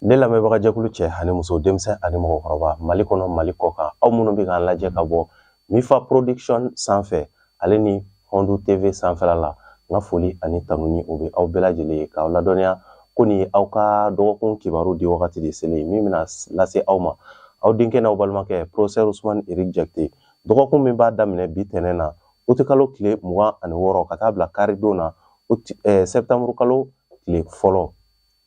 Ne lamɛnbagajɛkulu cɛ ani muso denmisɛn ani mɔgɔkɔrɔba mali kɔnɔ mali kɔ kan aw minnu bɛ k'an lajɛ ka bɔ mifa production sanfɛ ale ni hɔndu TV sanfɛ la n ka foli ani tanuni o bɛ aw bɛɛ lajɛlen ye k'aw ladɔnniya ko nin aw ka dɔgɔkun kibaru di wagati de selen ye min bɛna lase aw ma aw denkɛ n'aw balimakɛ professeur Ousmane Eric Jakite dɔgɔkun min b'a daminɛ bi tɛnɛn na uti kalo tile mugan ani wɔɔrɔ ka taa bila karidon na eh, sɛtanburukalo tile fɔlɔ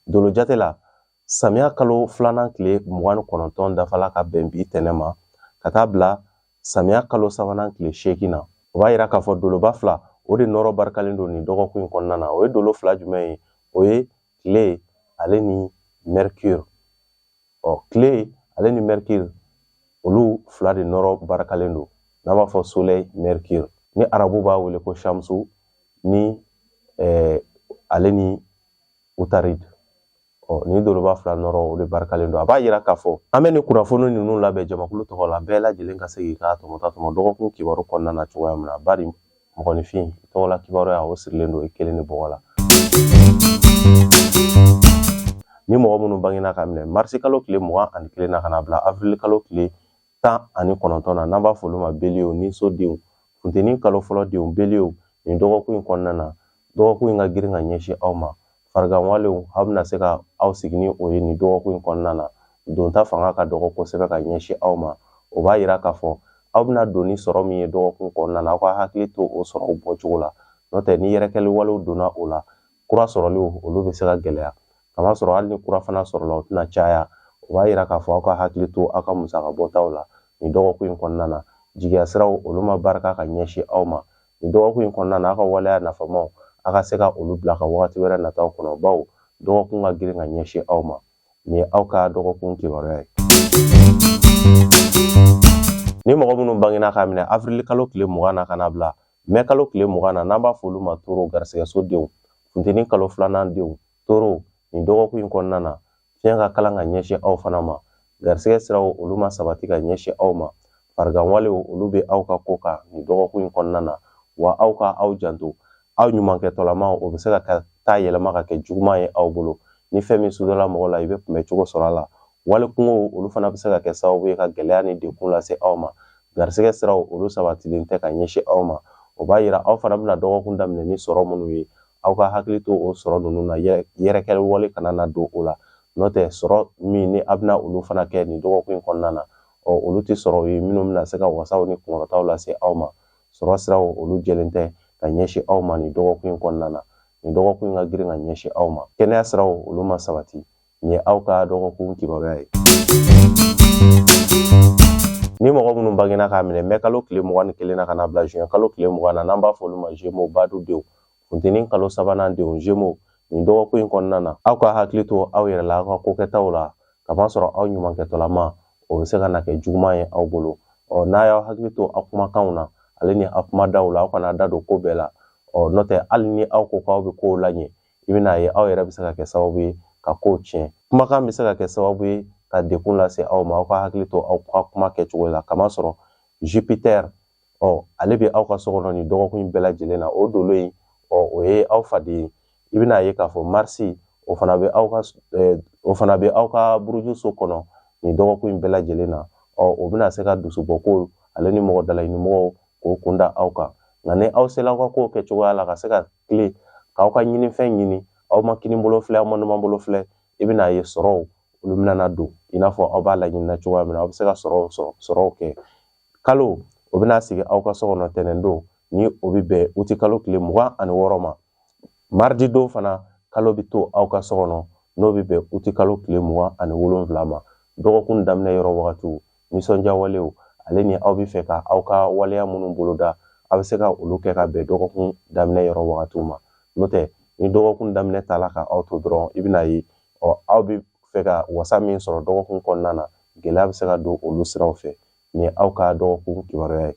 Dolojate la samiya kalo filanan tile mugan ni kɔnɔntɔn dafala ka bɛn bi tɛnɛn ma ka taa bila samiya kalo sabanan tile seegin na o b'a yira k'a fɔ doloba fila o de nɔrɔ barikalen don nin dɔgɔkun in kɔnɔna na o ye dolo fila jumɛn ye o ye tile ale ni mercure ɔ tile ale ni mercure olu fila de nɔrɔ barikalen don n'an b'a fɔ soleil mercure ni arabu b'a wele ko shamsu ni eh, ale ni utarid ɔ nin doloba fila nɔrɔ o de barikalen don a b'a yira k'a fɔ an bɛ nin kunnafoni ninnu labɛn jamakulu tɔgɔ la bɛɛ lajɛlen ka se k'i ka tɔmɔta tɔmɔ dɔgɔkun kibaru kɔnɔna na cogoya min na bari mɔgɔninfin tɔgɔ la kibaruya o sirilen don i kelen ni bɔgɔ la ni mɔgɔ minnu bangena ka minɛ marisi kalo tile mugan ani kelen na ka na bila avrili kalo tile tan ani kɔnɔntɔn na n'an b'a fɔ olu ma beliye niso denw funteni kalo fɔlɔ denw beliye nin dɔgɔkun in kɔnɔna na dɔgɔkun in ka girin ka ɲɛsin aw ma farigan walew aw bɛna se ka aw sigi ni o ye nin dɔgɔkun in kɔnɔna na donta fanga ka dɔgɔ kosɛbɛ ka ɲɛsin aw ma o b'a yira k'a fɔ aw bɛna don ni sɔrɔ min ye dɔgɔkun kɔnɔna na aw ka hakili to o sɔrɔw bɔcogo la n'o tɛ ni yɛrɛkɛli walew donna o la kura sɔrɔliw olu bɛ se ka gɛlɛya k'a masɔrɔ hali ni kura fana sɔrɔla o tɛna caya o b'a yira k'a fɔ aw ka hakili to aw ka musaka bɔtaw la nin dɔgɔkun in kɔnɔna na jigiya siraw olu ma barika ka ɲɛsin aw ma nin dɔgɔkun in kɔnɔna na aw ka waleya nafamaw aw ka se ka olu bila ka wagati wɛrɛ nataw kɔnɔ bawo dɔgɔkun ka girin ka ɲɛsin aw ma nin ye aw ka dɔgɔkun kibaruya ye ni mɔgɔ minnu bangena ka minɛ avrili kalo tile mugan na ka na bila mɛ kalo tile mugan na n'an b'a fɔ olu ma toro garisigɛso denw funteni kalo filanan denw toro nin dɔgɔkun in kɔnɔna na fiɲɛ ka kalan ka ɲɛsin aw fana ma garisigɛ siraw olu ma sabati ka ɲɛsin aw ma farigan walew olu bɛ aw ka ko kan nin dɔgɔkun in kɔnɔna na wa aw ka aw janto aw ɲumankɛtɔlama o bɛ se ka taa yɛlɛma ka kɛ juguman ye aw bolo ni fɛn min sudɔla mɔgɔ la i bɛ kunbɛcogo sɔrɔ a la wali kunkow olu fana bɛ se ka kɛ sababu ye ka gɛlɛya ni degun lase aw ma garisigɛ siraw olu sabatilen tɛ ka ɲɛsin aw ma o b'a yira aw fana bɛna dɔgɔkun daminɛ ni sɔrɔ minnu ye aw ka hakili to o sɔrɔ ninnu na yɛrɛkɛli wale kana na don o la n'o tɛ sɔrɔ minnu aw bɛna olu fana kɛ nin dɔgɔkun in kɔnɔna na ɔ olu tɛ sɔrɔ ye minnu bɛna se ka wasaw ni kunkɔrɔtaw lase aw ma sɔrɔ siraw olu jɛlen tɛ ka ɲɛsin aw ma nin dɔgɔkun in kɔnɔna na nin dɔgɔkun in ka girin ka ɲɛsin aw ma kɛnɛya siraw olu ma sabati Nin ye aw ka dɔgɔkun kibaruya ye. Ni mɔgɔ minnu bangena k'a minɛ mɛ kalo tile mugan ni kelen na ka na bila juin kalo tile mugan na n'an b'a fɔ olu ma Gémeaux baadu denw funteni kalo sabanan denw Gémeaux nin dɔgɔkun in kɔnɔna na aw ka hakili to aw yɛrɛ la aw ka kokɛtaw la kamasɔrɔ aw ɲumankɛtɔlama o bɛ se ka na kɛ juguman ye aw bolo ɔ n'a y'aw hakili to aw kumakanw na ale ni aw kumadaw la aw kana da don ko bɛɛ la ɔ n'o tɛ hali ni aw ko k'aw bɛ kow laɲɛ i bɛna ye aw yɛrɛ bɛ se ka kɛ sababu ye ka kow tiɲɛ kumakan bɛ se ka kɛ sababu ye ka dekun lase aw ma aw ka hakili to aw ka kuma kɛcogo la kamasɔrɔ jupitɛri ɔ ale bɛ aw ka so kɔnɔ nin dɔgɔkun bɛɛ lajɛlen na o dolo in ɔ o ye aw faden ye i bɛna ye k'a fɔ marisi o fana bɛ aw ka eh, o fana bɛ aw ka buruju so kɔnɔ nin dɔgɔkun in bɛɛ lajɛlen na ɔ o bɛna se ka dusubɔko ale ni mɔgɔ dalaɲinimɔgɔw k'o kun da aw kan nka ni aw sela aw ka kow kɛ cogoya la ka se ka tilen k'aw ka ɲinifɛn ɲini aw ma kini bolo filɛ aw ma numan bolo filɛ i bɛna ye sɔrɔw olu bɛna don i n'a fɔ aw b'a laɲinina cogoya min na aw bɛ se ka sɔrɔw sɔrɔ sɔrɔw kɛ kalo o bɛna sigi aw ka so kɔnɔ tɛnɛndon ni o bɛ bɛn uti kalo tile mugan ani wɔɔrɔ ma maridi don fana kalo bɛ to aw ka so kɔnɔ n'o bɛ bɛn uti kalo tile mugan ani wolonwula ma dɔgɔkun daminɛ yɔrɔ wagatiw nisɔndiya walew ale ni aw bɛ fɛ ka aw ka waleya minnu boloda aw bɛ se ka olu kɛ ka bɛn dɔgɔkun daminɛ yɔrɔ wagatiw ma n'o tɛ ni dɔgɔkun daminɛ taala ka aw to dɔrɔn i bɛna ye ɔ aw bɛ fɛ ka wasa min sɔrɔ dɔgɔkun kɔnɔna na gɛlɛya bɛ se ka don olu siraw fɛ nin ye aw ka dɔgɔkun kibaruya ye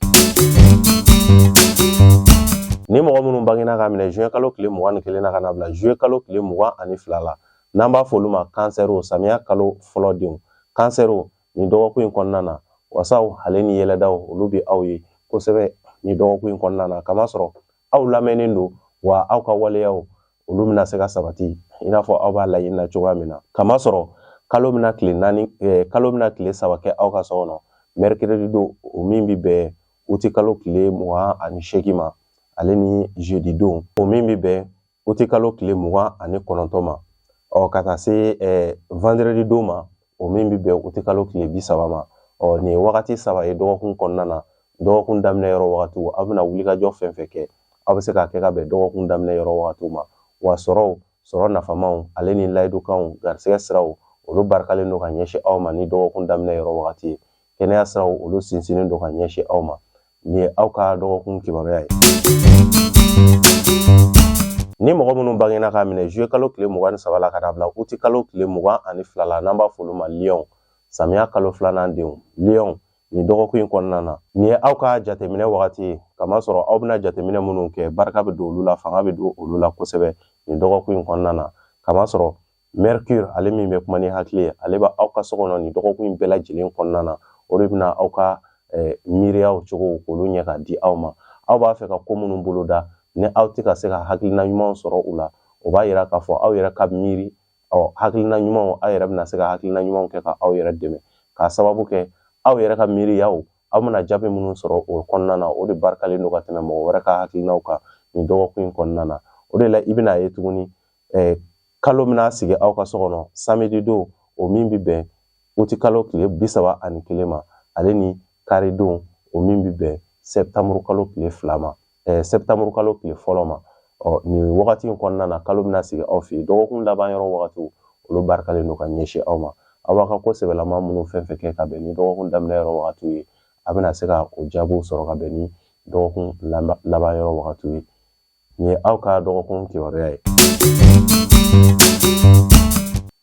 ni mɔgɔ minnu bangena k'a minɛ juin kalo tile mugan ni kelen na ka na bila juillet kalo tile mugan ani fila la n'an b'a fɔ olu ma kansɛriw samiya kalo fɔlɔ denw kansɛriw nin dɔgɔkun in kɔnɔna na wasaw ale ni yɛlɛdaw olu bɛ aw ye kosɛbɛ nin dɔgɔkun in kɔnɔna na kamasɔrɔ aw lamɛnnen don wa aw ka waleyaw olu bɛna se ka sabati i n'a fɔ aw b'a laɲini na cogoya min na kamasɔrɔ kalo bɛna tile naani eh, kalo bɛna tile saba kɛ aw ka so kɔnɔ mɛrikiredi don o min bɛ bɛn uti kalo tile mugan ani seegin ma ale ni jeudi don o min bɛ bɛn uti kalo tile mugan ani kɔnɔntɔn ma ɔ ka taa se vendredi don ma o min bɛ bɛn uti kalo tile bi saba ma ɔ nin ye wagati saba ye dɔgɔkun kɔnɔna na dɔgɔkun daminɛ yɔrɔ wagatiw aw bɛna wulikajɔ fɛn fɛn kɛ aw bɛ se k'a kɛ ka bɛn dɔgɔkun daminɛ yɔrɔ wagatiw ma wa sɔrɔw sɔrɔ nafamaw ale ni layidukanw garisɛgɛ siraw olu barikalen don ka ɲɛsin aw ma ni dɔgɔkun daminɛ yɔrɔ wagati ye kɛnɛya siraw olu sinsinnen don ka ɲɛsin aw ma nin ye aw ka dɔgɔkun kibaruya ye ni mɔgɔ minnu bangena k'a minɛ zuye kalo tile mugan ni saba la ka na bila uti kalo tile mugan ani fila la n'an b'a f'olu ma liyɔn samiya kalo filanan denw liyɔn nin dɔgɔkun in kɔnɔna na nin ye aw ka jateminɛ wagati ye kamasɔrɔ aw bɛna jateminɛ minnu kɛ barika bɛ don olu la fanga bɛ don olu la kosɛbɛ nin dɔgɔkun in kɔnɔna na kamasɔrɔ mercure ale min bɛ kuma ni hakili ye ale bɛ aw ka so kɔnɔ nin dɔgɔkun in bɛɛ lajɛlen kɔnɔna na o de bɛna aw ka eh, miiriyaw cogo k'olu ɲɛ ka di aw ma aw b'a fɛ ka ko minnu boloda ni aw tɛ ka se ka hakilina ɲumanw sɔrɔ u la o b'a yira k'a fɔ aw yɛrɛ ka miiri ɔ hakilina ɲumanw aw yɛrɛ bɛna se ka hakilina ɲumanw kɛ ka aw yɛrɛ dɛmɛ k'a sababu kɛ aw yɛrɛ ka miiriyaw aw bɛna jaabi minnu sɔrɔ o kɔnɔna na o de barikalen don ka tɛmɛ mɔgɔ wɛrɛ ka hakilinaw kan nin dɔgɔkun in kɔnɔna na o de la i bɛna ye tuguni eh, kalo bɛna sigi aw ka so kɔnɔ samedi don o min bɛ bɛn uti kalo tile bi saba ani kelen ma ale ni kari don o min bɛ bɛn sɛptamuru kalo tile fila ma eh, sɛptamuru kalo tile fɔlɔ ma ɔ nin wagati in kɔnɔna na kalo bɛna sigi aw fɛ yen dɔgɔkun laban yɔrɔ wagatiw olu barikalen don ka ɲɛsin aw ma aw b'a ka ko sɛbɛlama minnu fɛn fɛn kɛ ka bɛn ni dɔgɔkun daminɛ yɔrɔ wagatiw ye a bɛna se ka o jaabiw sɔrɔ ka bɛn ni dɔgɔkun laban yɔrɔ wagatiw ye Nin ye aw ka dɔgɔkun kibaruya ye.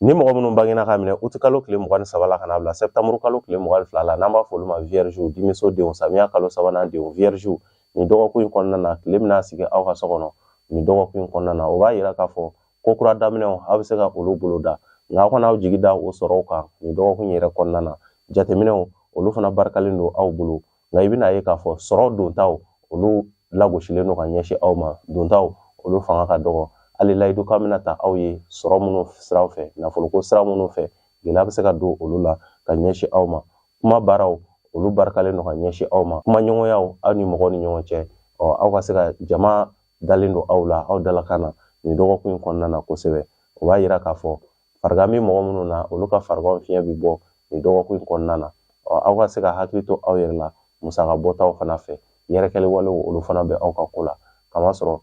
Ni mɔgɔ minnu bangena k'a minɛ uti kalo tile mugan ni saba la ka n'a bila sɛptamuru kalo tile mugan ni fila la n'an b'a fɔ olu ma viergew dimiso denw samiya kalo sabanan denw viergew nin dɔgɔkun in kɔnɔna na tile bɛna sigi aw ka so kɔnɔ nin dɔgɔkun in kɔnɔna na o b'a yira k'a fɔ ko kura daminɛw aw bɛ se ka olu boloda nka aw kana aw jigi da o sɔrɔw kan nin dɔgɔkun yɛrɛ kɔnɔna na jateminɛw olu fana barikalen don aw bolo nka i bɛna ye k'a fɔ sɔrɔ dontaw olu lagosilen don ka ɲɛsin aw ma dontaw olu fanga ka dɔgɔ hali layidukan bɛna ta aw ye sɔrɔ minnu siraw fɛ nafoloko sira minnu fɛ gɛlɛya bɛ se ka don olu la ka ɲɛsin aw ma kuma baaraw olu barikalen don ka ɲɛsin aw ma kumaɲɔgɔnyaw aw ni mɔgɔw ni ɲɔgɔn cɛ ɔ aw ka se ka jama dalen don aw la aw dalakan na nin dɔgɔkun in kɔnɔna na kosɛbɛ o b'a yira k'a fɔ Farigan bɛ mɔgɔ minnu na olu ka farigan fiɲɛ bɛ bɔ nin dɔgɔkun in kɔnɔna na ɔ aw ka se ka hakili to aw yɛrɛ la musaka bɔtaw fana fɛ yɛrɛkɛli walew olu fana bɛ aw ka ko la kamasɔrɔ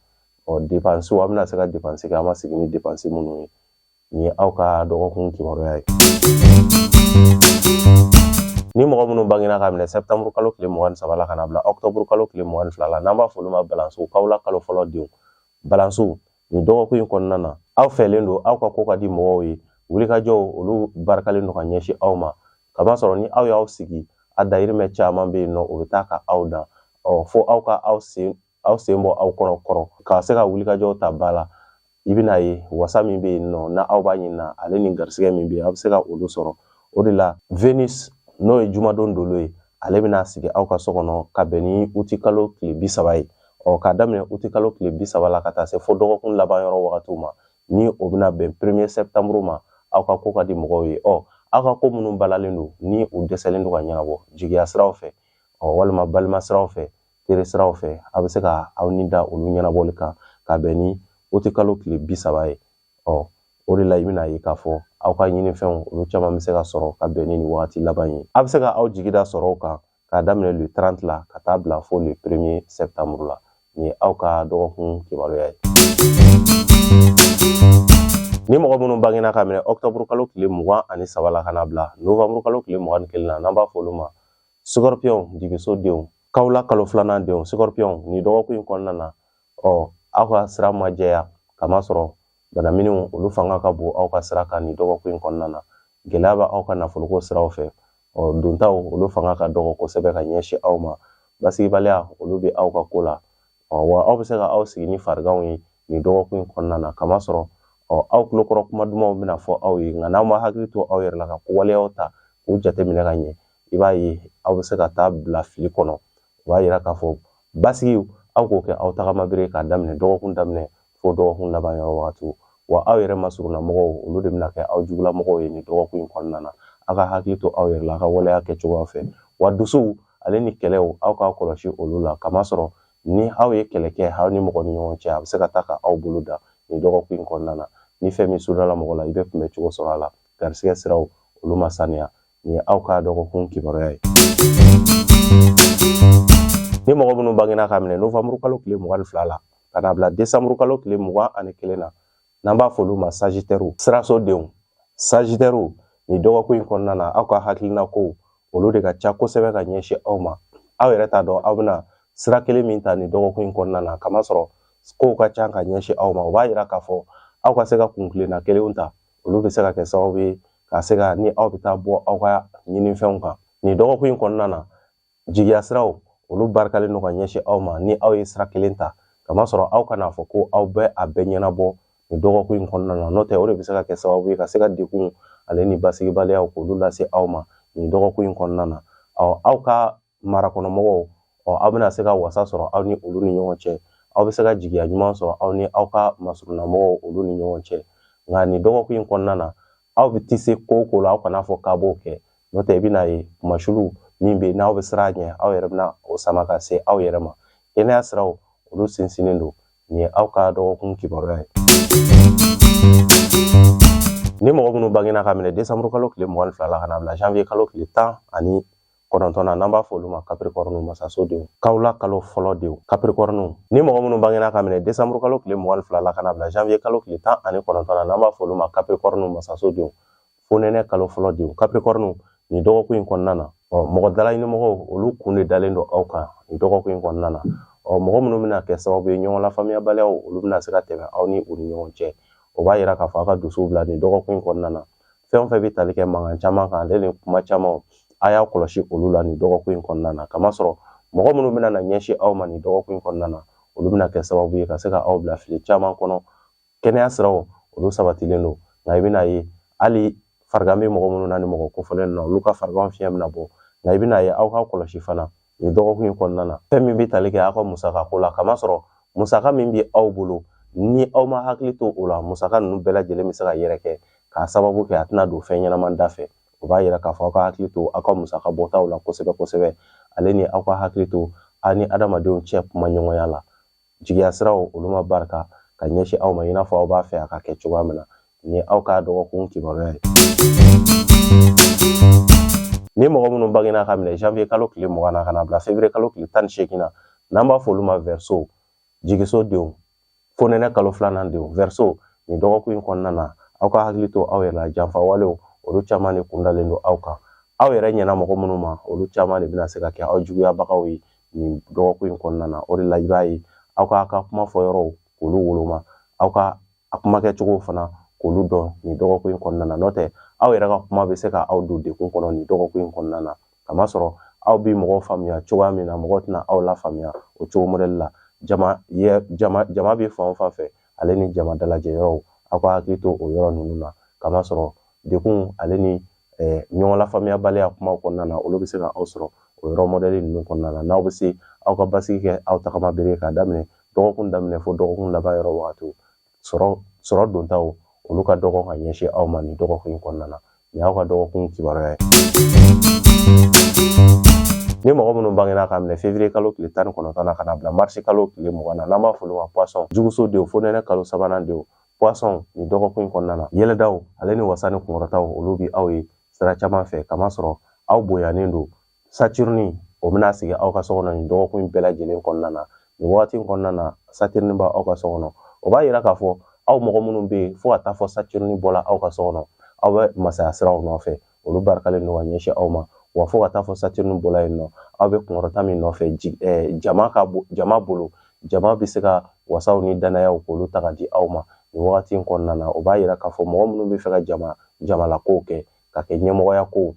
ɔ depansiw aw bɛna se ka depansi kɛ aw ma sigi ni depansi minnu ye nin ye aw ka dɔgɔkun kibaruya ye ni mɔgɔ minnu bangena k'a minɛ sɛptamuru kalo tile mugan ni saba la ka n'a bila ɔktɔburu kalo tile mugan ni fila la n'an b'a fɔ olu ma balansiw kawla kalo fɔlɔ denw balansiw nin dɔgɔkun in kɔnɔna na aw fɛlen don aw ka ko ka di mɔgɔw ye wulikajɔw olu barikalen don ka ɲɛsin aw ma kamasɔrɔ ni aw y'aw sigi a dayirimɛ caman bɛ yen nɔ o bɛ taa ka aw dan ɔ fo aw ka aw sen aw sen bɔ aw kɔrɔ kɔrɔ ka se ka wulikajɔw ta ba la i bɛna ye wasa min bɛ yen nɔ na aw b'a ɲini na ale ni garisɛgɛ min bɛ yen aw bɛ se ka olu sɔrɔ o de la venus n'o ye jumadon dolo ye ale bɛna sigi aw ka so kɔnɔ ka bɛn ni uti kalo tile bi saba ye ɔ k'a daminɛ uti kalo tile bi saba la ka taa se fo dɔgɔkun laban yɔrɔ wagatiw ma ni o bɛna bɛn premier septembre ma aw ka ko ka di mɔgɔw ye ɔ aw ka ko minnu balalen don ni u dɛsɛlen don ka ɲɛnabɔ jigiya siraw fɛ ɔ walima balima siraw fɛ teri siraw fɛ a bɛ se ka aw ni da olu ɲɛnabɔli kan ka bɛn ni uti kalo tile bi saba ye ɔ o de la i bɛn'a ye k'a fɔ aw ka ɲininfɛnw olu caman bɛ se ka sɔrɔ ka bɛn ni nin wagati laban ye a bɛ se ka aw jigi da sɔrɔw kan k'a daminɛ le 30 la ka taa bila fo le 1er septembre la nin ye aw ka dɔgɔkun kibaruya ye ni mɔgɔ minnu bangena ka minɛ ɔktɔburu kalo tile mugan ani saba la ka na bila novanburu kalo tile mugan ni kelen na n'an b'a fɔ olu ma sikɔrpiyɔnw dibiso denw kawula kalo filanan denw sikɔrpiyɔnw nin dɔgɔkun in kɔnɔna na ɔ aw ka sira ma jɛya kamasɔrɔ Banaminw olu fanga ka bon aw ka sira kan nin dɔgɔkun in kɔnɔna na gɛlɛya bɛ aw ka nafoloko siraw fɛ ɔ dontaw olu fanga ka dɔgɔ kosɛbɛ ka ɲɛsin aw ma basigibaliya olu bɛ aw ka ko la ɔ wa aw bɛ se ka aw sigi ni fariganw ye nin dɔgɔkun in kɔnɔna na kamasɔrɔ ɔ aw tulokɔrɔ kuma dumanw bɛna fɔ aw ye nka n'aw ma hakili to aw yɛrɛ la ka ko waleyaw ta k'u jateminɛ ka ɲɛ i b'a ye aw bɛ se ka taa bila fili kɔnɔ o b'a yira k'a fɔ basigiw aw k'o kɛ aw tagamabere k'a daminɛ dɔgɔkun daminɛ fo dɔgɔkun laban yɔrɔ wagati wa aw yɛrɛ masurunna mɔgɔw olu de bɛna kɛ aw jugula mɔgɔw ye nin dɔgɔkun in kɔnɔna na aw ka hakili to aw yɛrɛ la aw ka waleya kɛ cogoya fɛ wa dusuw ale ni kɛlɛw aw k'a kɔlɔsi olu la kamasɔrɔ ni aw ye kɛlɛ kɛ aw ni mɔgɔ ni ɲɔgɔn cɛ a bɛ se ka taa ka aw bolo da nin dɔgɔkun in kɔnɔna na ni fɛn min sudala mɔgɔ la i bɛ kunbɛ cogo sɔrɔ a la garisigɛ siraw olu ma saniya nin ye aw ka dɔgɔkun kibaruya ye ni mɔgɔ minnu bangena ka minɛ novanburu kalo tile mugan ni fila la ka na bila desanburu kalo tile mugan ani kelen na n'an b'a f'olu ma sajitɛriw sirasodenw sajitɛriw nin dɔgɔkun in kɔnɔna na aw ka hakilina kow olu de ka ca kosɛbɛ ka ɲɛsin aw ma aw yɛrɛ t'a dɔn aw bɛna sira kelen min ta nin dɔgɔkun in kɔnɔna na kamasɔrɔ kow ka ca ka ɲɛsin aw ma o b'a yira k'a fɔ aw ka se ka kuntilenna kelenw ta olu bɛ se ka kɛ sababu ye ka se ka ni aw bɛ taa bɔ aw ka ɲininfɛnw kan nin dɔgɔkun in kɔnɔna na jigiya siraw olu barikalen don ka ɲɛsin aw ma ni aw ye sira kelen ta kamasɔrɔ aw kana fɔ ko aw bɛ a bɛɛ ɲɛnabɔ nin dɔgɔkun in kɔnɔna na n'o tɛ o de bɛ se ka kɛ sababu ye ka se ka degun ale ni basigibaliyaw k'olu lase aw ma nin dɔgɔkun in kɔnɔna na ɔ aw ka marakɔnɔmɔgɔw ɔ aw bɛna se ka wasa sɔrɔ aw ni olu ni ɲɔgɔn cɛ aw bɛ se ka jigiya ɲuman sɔrɔ aw ni aw ka masurunnamɔgɔw olu ni ɲɔgɔn cɛ nka nin dɔgɔkun in kɔnɔna na aw bɛ tise ko o ko la aw kana fɔ k'aw b'o kɛ n'o tɛ i bɛn'a ye kunmasuuli min bɛ yen n'aw bɛ siran a ɲɛ aw yɛrɛ bɛna o sama ka se aw yɛrɛ ma kɛnɛya siraw olu sinsinnen don nin ye aw ka dɔgɔkun kibaruya ye ni mɔgɔ minnu bangena ka minɛ desanburu kalo tile mugan ni fila la ka na bila janvier kalo tile tan ani kɔnɔntɔn na n'an b'a fɔ olu ma kapirikɔrɔniw masaso denw kawula kalo fɔlɔ denw kapirikɔrɔniw ni mɔgɔ minnu bangena ka minɛ desanburu kalo tile mugan ni fila la ka na bila janviye kalo tile tan ani kɔnɔntɔn na n'an b'a fɔ olu ma kapirikɔrɔniw masaso denw fonɛnɛ kalo fɔlɔ denw kapirikɔrɔniw nin dɔgɔkun in kɔnɔna na ɔ mɔgɔ dalaɲinimɔgɔw olu kun de dalen don aw kan nin dɔgɔkun in kɔnɔna na ɔ mɔgɔ minnu bɛna kɛ sababu ye ɲɔgɔn lafaamuyabaliyaw olu bɛna se ka tɛmɛ aw ni u ni ɲɔgɔn cɛ o b'a yira k'a fɔ aw ka dusuw bila nin dɔgɔkun in kɔnɔna na fɛn o fɛn bɛ tali kɛ mankan caman kan ale ni kuma caman a y'a kɔlɔsi olu la nin dɔgɔkun in kɔnɔna na kamasɔrɔ mɔgɔ minnu bɛna na ɲɛsin aw ma nin dɔgɔkun in kɔnɔna na olu bɛna kɛ sababu ye ka se ka aw bila fili caman kɔnɔ kɛnɛya siraw olu sabatilen don nka i bɛna ye hali farigan bɛ mɔgɔ minnu na ni mɔgɔ kofɔlen na olu ka farigan fiɲɛ bɛna bɔ nka i bɛna ye aw ka kɔlɔsi fana Nin dɔgɔkun in kɔnɔna na fɛn min bɛ tali kɛ aw ka musaka ko la kamasɔrɔ musaka min bɛ aw bolo ni aw ma hakili to o la musaka ninnu bɛɛ lajɛlen bɛ se ka yɛrɛkɛ k'a sababu kɛ a tɛna don fɛn ɲɛnama dafɛ o b'a yira k'a fɔ aw ka hakili to aw ka musaka bɔtaw la kosɛbɛ kosɛbɛ ale ni aw ka hakili to aw ni adamadenw cɛ kumaɲɔgɔnya la jigiya siraw olu ma barika ka ɲɛsin aw ma i n'a fɔ aw b'a fɛ a ka kɛ cogoya min na nin y'aw ka dɔgɔkun kibaruya ye ni mɔgɔ minnu bangena ka minɛ janvier kalo tile mugan na ka na bila février kalo tile tan ni seegin na n'an b'a fɔ olu ma verseau jigiso denw fonɛnɛ kalo filanan denw verseau nin dɔgɔkun in kɔnɔna na aw ka hakili to aw yɛrɛ la janfawalew olu caman de kun dalen don aw kan aw yɛrɛ ɲɛna mɔgɔ minnu ma olu caman de bɛna se ka kɛ aw juguyabagaw ye nin dɔgɔkun in kɔnɔna na o de la i b'a ye aw k'aw ka kuma fɔ yɔrɔw k'olu woloma aw ka kuma kɛcogow fana k'olu dɔn nin dɔgɔkun in kɔnɔna na n'o tɛ aw yɛrɛ ka kuma bɛ se ka aw don degun kɔnɔ nin dɔgɔkun in kɔnɔna na kamasɔrɔ aw bɛ mɔgɔw faamuya cogoya min na mɔgɔw tɛna aw lafaamuya o cogo mɔdɛli la jama jama bɛ fan o fan fɛ ale ni jama dalajɛ yɔrɔw aw ka hakili to o yɔrɔ ninnu na kamasɔrɔ degun ale ni eh, ɲɔgɔn lafaamuyabaliya kumaw kɔnɔna na olu bɛ se ka aw sɔrɔ o yɔrɔ mɔdɛli ninnu kɔnɔna na n'aw bɛ se aw ka basigi kɛ aw tagama bere k'a daminɛ dɔgɔkun daminɛ fo dɔgɔkun laban yɔrɔ wagatiw sɔrɔ sɔrɔ dontaw olu ka dɔgɔ ka ɲɛsin aw ma nin dɔgɔkun in kɔnɔna na Nin y'aw ka dɔgɔkun kibaruya ye. Ni mɔgɔ minnu bangena ka minɛ février kalo tile tan ni kɔnɔntɔn na ka na bila mars kalo tile mugan na n'an b'a f'olu ma poisson juguso denw fonɛnɛ kalo sabanan denw poisson nin dɔgɔkun in kɔnɔna na yɛlɛdaw ale ni wasa ni kunkɔrɔtaw olu bi aw ye sira caman fɛ kamasɔrɔ aw bonyanen don Saturne o bɛna sigi aw ka so kɔnɔ nin dɔgɔkun in bɛɛ lajɛlen kɔnɔna na nin wagati in kɔnɔna na Saturne b'aw ka so kɔnɔ o b'a yira k'a fɔ aw mɔgɔ minnu bɛ yen fo ka taa fɔ Saturne bɔla aw ka so kɔnɔ aw bɛ masaya siraw nɔfɛ olu barikalen don ka ɲɛsin aw ma wa fo ka taa fɔ Saturne bɔla yen nɔ aw bɛ kunkɔrɔta min nɔfɛ jama ka jama bolo jama bɛ se ka wasaw ni danayaw k'olu ta ka di aw ma nin wagati in kɔnɔna na o b'a yira k'a fɔ mɔgɔ minnu b'a fɛ ka jama jamalakow kɛ ka kɛ ɲɛmɔgɔya kow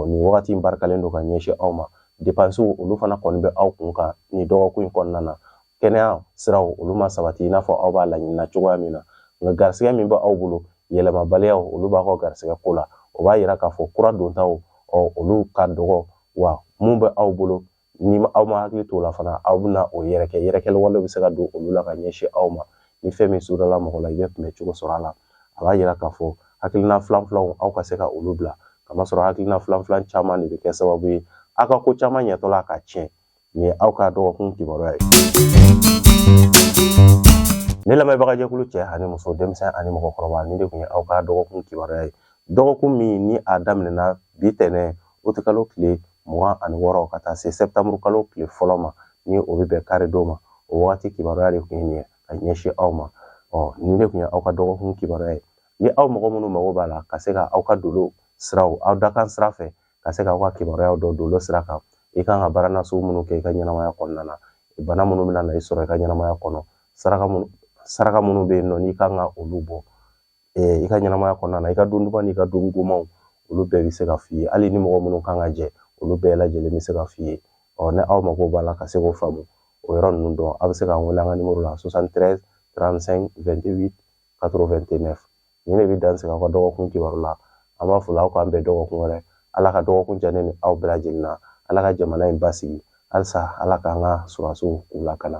nin wagati in barikalen don ka ɲɛsin aw ma depansiw olu fana kɔni bɛ aw kun kan nin dɔgɔkun in kɔnɔna na kɛnɛya siraw olu ma sabati i n'a fɔ aw b'a laɲinina cogoya min na nka garisɛgɛ min bɛ aw bolo yɛlɛmabaliyaw olu b'a ka garisɛgɛ ko la o b'a yira k'a fɔ kura dontaw ɔ olu ka dɔgɔ wa min bɛ aw bolo ni aw ma hakili t'o la fana aw bɛna o yɛrɛkɛ yɛrɛkɛli wale bɛ se ka don olu la ka ɲɛsin aw ma ni fɛn min sudala mɔgɔ la i bɛ kunbɛ cogo sɔrɔ a la a b'a yira k'a fɔ hakilina filan filanw aw ka se ka olu bila k'a masɔrɔ hakilina filan filan caman de bɛ kɛ sababu ye aw ka ko caman ɲɛtɔ la ka tiɲɛ nin ye aw ka dɔgɔkun kibaruya ye ne lamɛnbagajɛkulu cɛ ani muso denmisɛn ani mɔgɔkɔrɔba nin de tun ye aw ka dɔgɔkun kibaruya ye dɔgɔkun min ni a daminɛna bi tɛnɛn uti kalo tile mugan ani wɔɔrɔ ka taa se sɛtanburu kalo tile fɔlɔ ma ni o bɛ bɛn kari don ma o wagati kibaruya de tun ye nin ye ka ɲɛsin aw ma ɔ nin de tun ye aw ka dɔgɔkun kibaruya ye ni aw mɔgɔ minnu mago b'a la ka se ka aw ka dolo siraw aw dakan sira fɛ ka se ka aw ka kibaruyaw dɔn dolo sira kan i kan ka baara nasugu minnu kɛ i ka ɲɛnamaya kɔnɔna na bana minnu bɛna na i sɔrɔ i ka ɲɛnamaya kɔnɔ saraka minnu bɛ yen nɔ n'i kan ka olu bɔ i ka ɲɛnamaya kɔnɔna na i ka don duman n'i ka don gomanw olu bɛɛ bɛ se ka f'i ye hali ni mɔgɔ minnu kan ka jɛ olu bɛɛ lajɛlen bɛ se ka f'i ye ɔ ni aw mago b'a la ka se k'o faamu o yɔrɔ ninnu dɔn aw bɛ se k'an wele an ka nimoro la 73 35 28 89 nin de bɛ dan sigi aw ka dɔgɔkun kibaru la an b'a fɔ aw k'an bɛn dɔgɔkun wɛrɛ ala ka dɔgɔkun diya ne ni aw bɛɛ lajɛlen na ala ka jamana in basigi halisa ala k'an ka sɔrɔdasiw k'u lakana